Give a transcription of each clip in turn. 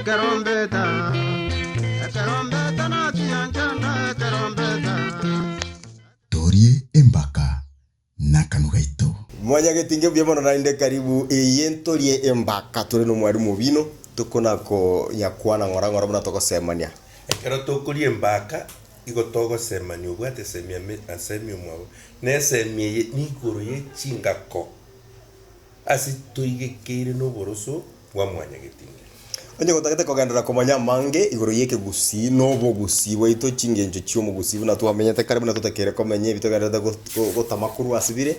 Ekerombeta, ekerombeta nachiya nchanda ekerombeta. Torie embaka nakanwa gaito. Mwanyagete inge buya mono naende karibu eye ntorie embaka tore nomwarimu obino tokona ko nyakwana ng'ora ng'ora buna togosemania. Ekero tokoria embaka igo togosemania obwate semi ame na semi omwabo na esemi eye ni igoro ye chingako. Ase toigekeire noboroso bwa mwanyagetindi. Onye gotagete kogenderera komanya amange igoro y'ekegusii na obogusii bwaito chingencho chi'omogusii buna twamenyete kare buna totakeire komenya ebi togendererete gotama korwa ase bire,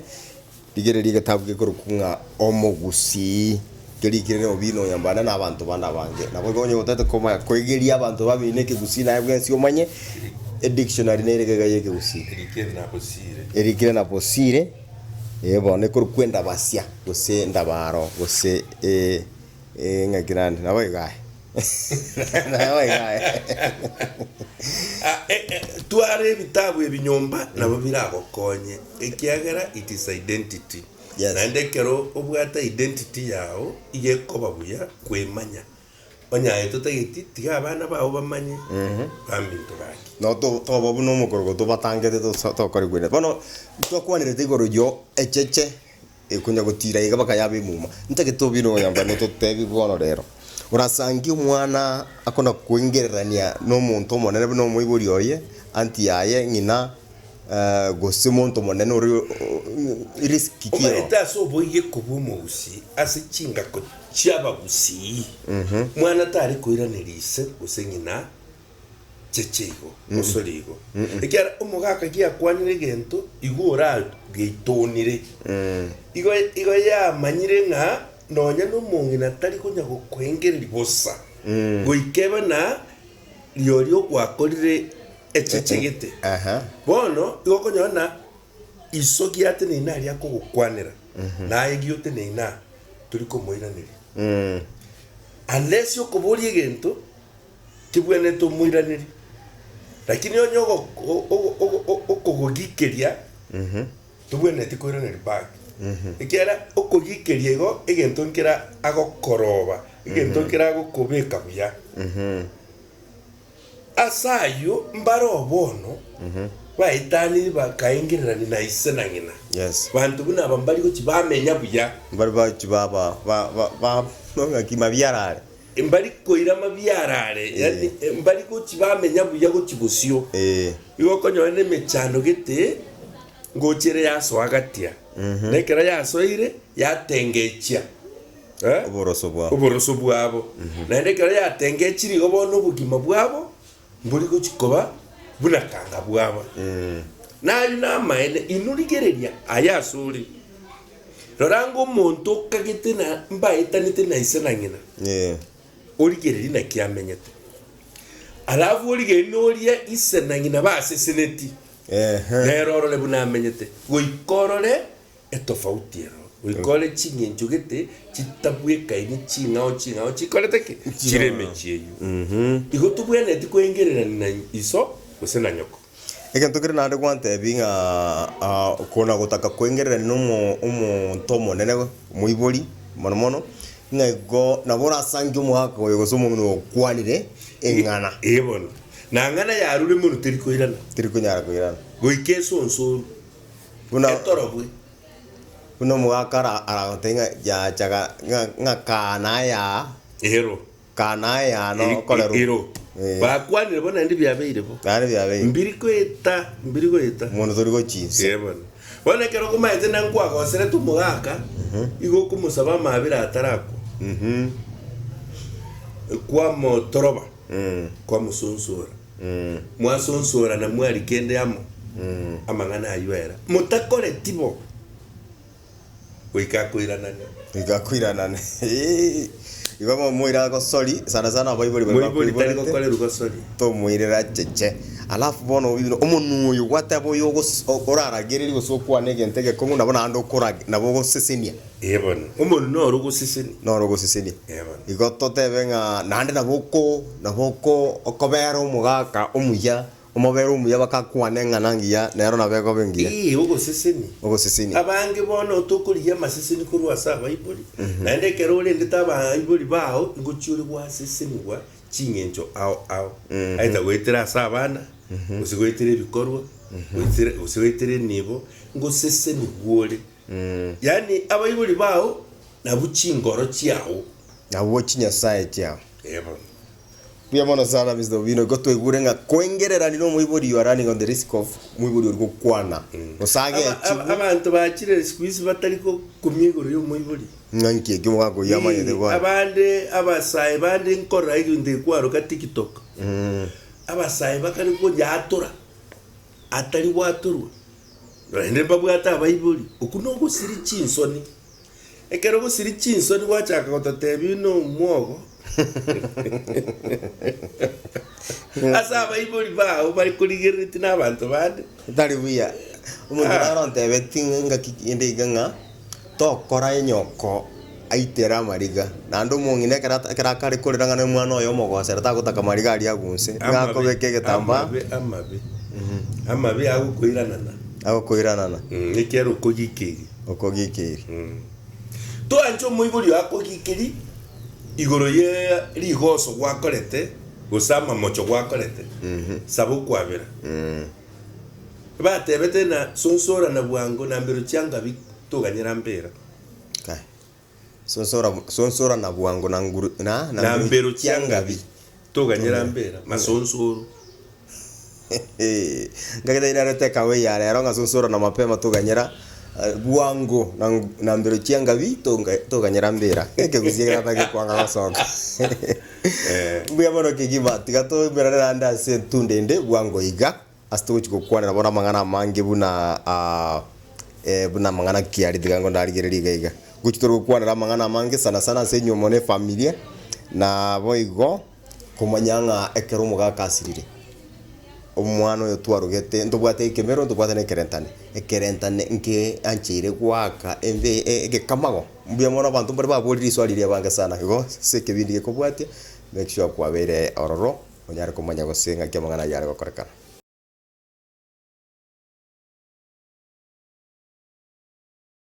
rigereria egetabu gekorokwa ng'a Omogusii, kerikire na obina onyambane na abanto bande abange. Naboigo onye gotagete komanya koigeria abanto babeine ekegusii naye bwensi omanye edictionary nere gega y'ekegusii. Erikire na bosire. Erikire na bosire. Eebo, nekorwa kwendabasia, gose endabaro, gose eng'aki naende, nabo iga aye. Nabo iga aye. Ah, eh, eh, twara ebitabu ebi nyomba nabo biragokonye ekiagera it is identity. Yes. Naende ekero obwate identity yao iga ekoba buya kwemanya. Onye aye totageti, tiga abana bao bamanye baminto gaki. No to- toba buna omokorogo tobatangete tosa- tokore kwene. Bono twakwanerete igoro yo echeche ekonya gotira iga baka yaba emuma. Ntagete tobire oyomba nototebi bono rero. Orasange omwana akona koengererania na omonto omonene buna omoibori oye, anti yaye, ng'ina gose monto monene ore o- o- o- risk ki ere. Omanyete ase oboigo ekobua omogusii ase chingako chi'abagusii, mwana tare koiraneria ise gose ng'ina cheche igo, osore igo. Ekiagera omogaka giakwanire egento igo orageitoonire, igo igo yamanyire ng'a nonya nomong'ina tari konya gokwengereria bosa, goika ebe na rirorio ogwakorire echeche gete. Bono igo okonyora ng'a iso giateneine aria akogokwanera. naye giote ne ng'a tori komoiraneria. Unless okoboria egento kebwenerete omoiranerie, lakini onye ogo okogogikeria tobwenereti koiraneria back, ekiagera okogikeria igo egento nkere agokoroba, egento nkere agokobeka buya. Ase ayio mbare oo bono baetaniri bakaengererania na ise na ng'ina, Yes. banto buna aba mbari gochi bamenya buya, Mbari bachi baba ba ba ba ng'aki mabiarare. mbari koira mabiarare, yani mbari gochi bamenya buya gochi bosio. Eh. Igo okonyora nemechando gete ngochire yasoagatia, na ekero yasoire yatengechia. oboroso bwabo. oboroso bwabo, naende ekero yatengechiri igo bono obogima bwabo mbori gochia koba buna kanga bwaba. Na ayio namaene, inwe rigereria aya asore, Rora ng'a omonto okagete na mbaetanete na ise na ng'ina, origererie naki amenyete, alafu origererie noria ise na ng'ina baseseneti, nere orore buna amenyete, goika orore etofauti ero, goika ore ching'encho gete chitabwekaini ching'ao ching'ao chikorete ki? Chire emechie eyio. Igo tobwenereti koengererania na iso gose na nyoko. Egento kere naende gwantebia ng'a ah, kona gotaka koengererania na omo omonto omonene omoibori mono mono, ng'a igo nabo orasange omogaka oyo gose omong'ina oyo okwanire eng'ana, Ee bono. Na ng'ana yarure mono teri koirana, teri konyara koirana. goika esonsoru. Buna, buna omogaka ara aragotebie ng'a yachaga ng'a ng'a kaa naye aa, Ero. kaa naye aa no okorerwa. Ero. Eh. Bakwanire bo naende biabeire bo. Naende biabeire. Mbiri goeta, mbiri goeta. Mono tori gochia inse. Ee bono. Bono ekero okomaete na nkwagoserete omogaka, igo okomosaba amaabera atarakwa, kwamotoroba. kwamosunsora, mwasunsora na mwari kende amo amang'ana ayio era, motakoreti bo, goika akoiranane. Goika akoiranane. Igo momoire agosori, sana sana abaibori baria Moibori tari bakoiborete, gokorerwa gosori. tomoirere acheche. Alafu bono obibe omonwa oyo gwateba oyo ogos- o- oraragereria gose okwane egento egekong'u nabo naende okorage, nabo ogosesenia. Ee bono, omoru noro ogoseseni. Noro ogoseseni. Ee bono. Igo totebe ng'a naende nabo oko, nabo oko okobera omogaka omuya, omobere omuya bagakwana eng'ana engiya, nero nabo ekoba engiya. Ee, ogoseseni. Ogoseseni. Abange bono tokorigia amaseseni korwa ase abaibori, naende ekero orendete abaibori bao ingochi ore gwasesenigwa ching'encho ao ao, either goetera ase abana, gose goetera ebikorwa, goetera, gose goetera enibo, ngosesenigwe ore. Yaani abaibori bao nabwo chingoro chiao. Nabwo chinyasae chiao. Ee bono. Mbuya mono sana Mister Obino, igo twaigure ng'a koengereranire omoibori you are running on the risk of moibori oria gokwana gose Aba- aba- agechigwe abanto bachire siku hizi batari gokumia igoro ya omoibori. ng'a nki ekio mogakoyia amanyete Ee, gwanyu. abande abasae bande nkorora egento ekwaroka tiktok abasae bakare konyatura atari gwaturwa Naende mbabwate abaibori, okwo nogosiria chinsoni. Ekero ogosiria chinsoni gwachaka gototebia nomwogo ase abaibori bao bare korigereretie nabanto bande. Tari buya omonto naro ontebeti ng'a engaki ende iga ng'a Tokora enyoko aitere amariga, naende omong'ina ekero ekero akare korera ng'a nomwana oye omogosera tagotaka mariga aria agunse, ng'a akobeka egetambaa. Amabe, amabe, amabe, amabe agokoiranana. Agokoiranana. Mm, ekiagera okogikeria. Okogikeria. Mm. Toanche omoibori oye akogikeri igoro ye rigoso gwakorete gose amamocho gwakorete, saba okwabera. Batebete ng'a, Sonsora na bwango, na mbero chia Ngabi toganye rampera. Kai. Sonsora, sonsora na bwango na nguru, na, Na mbero chia Ngabi toganye rampera. Masonsoro. Ngagete ira arete ekawe ya rero ng'a sonsora na mapema toganye ra, eh, bwango na, na mbero chia Ngabi tonga, toganye rampera. Ekegusia ekeratagete kwanga gosoka. Mbuya mono kegima, tiga toimerane naende ase etunda ende bwango iga, ase togochia gokwanera bono amang'ana amange buna ah, eh, buna amang'ana ki aria tiga ndarigereria iga iga. Gochia tore gokwanera amang'ana amange sana sana ase inwe mono efamilia, naboigo komanya ng'a ekero omogaka asirire, omwana oyo twarogete ntobwate ekemero, ntobwate na ekerentane, ekerentane nke ancheire goaka embe eh egekamago. Mbuya mono abanto mbare baborire risoa riria ebange sana. Igo ase ekebindi gekobwatia, make sure kwabeire ororo onyare komanya gose ng'aki amang'ana ayio are gokorekana.